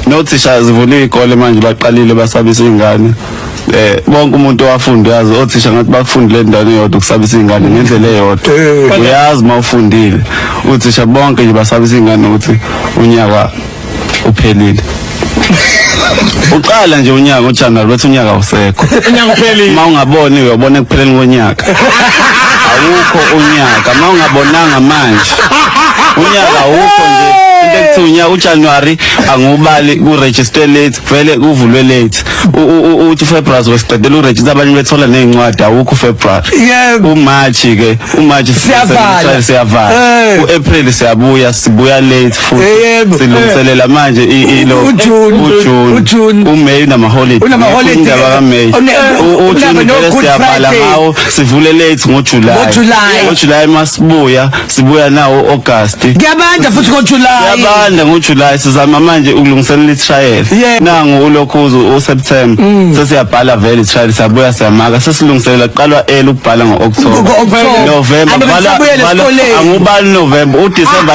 nothisha zivula iy'kole manje baqalile basabisa iy'ngane eh bonke umuntu owafunda uyazi othisha ngathi bakufundile endaweni eyodwa ukusabisa iy'ngane ngendlela eyodwa Eh. uyazi uma ufundile uthisha bonke nje basabisa iy'ngane ukuthi unyaka uphelile uqala nje unyaka ujanuwari bethi unyaka awusekho unyaka uphelile uma ungaboni uyobona ekupheleni konyaka awukho unyaka uma ungabonanga manje unyaka awukho nje into ekuthiwa unyaka ujanuwari angiwubali kuregister late vele kuvulwe late U- u- u- uthi ufebruary zosiqedela uregister abanye bethola ney'ncwadi awukho ufebruary Yebo. umarch-ke umarch Siyavala. siyavala Eh. u-april siyabuya sibuya late futhi Yebo. silungiselela manje i- i- lo- UJune. uJune UJune. uMay unamaholiday Unamaholiday. Indaba kaMay Une- U- uJune unaba vele no-Good siyabhala Friday. ngawo sivule late ngoJuly NgoJuly. ngoJuly masibuya sibuya nawo August kuyabanda futhi ngojulayi yabanda ngoJuly sizama manje ukulungiselela itrial Yeah. Mm. nangu ulokhuzu uSeptember sesiyabhala vele itrial siyabuya siyamaka sesilungiselela kuqalwa early ukubhala ngo-October Ngo-October. November Abantu bala- besabuyela bala- esikoleni. angubani November uDecember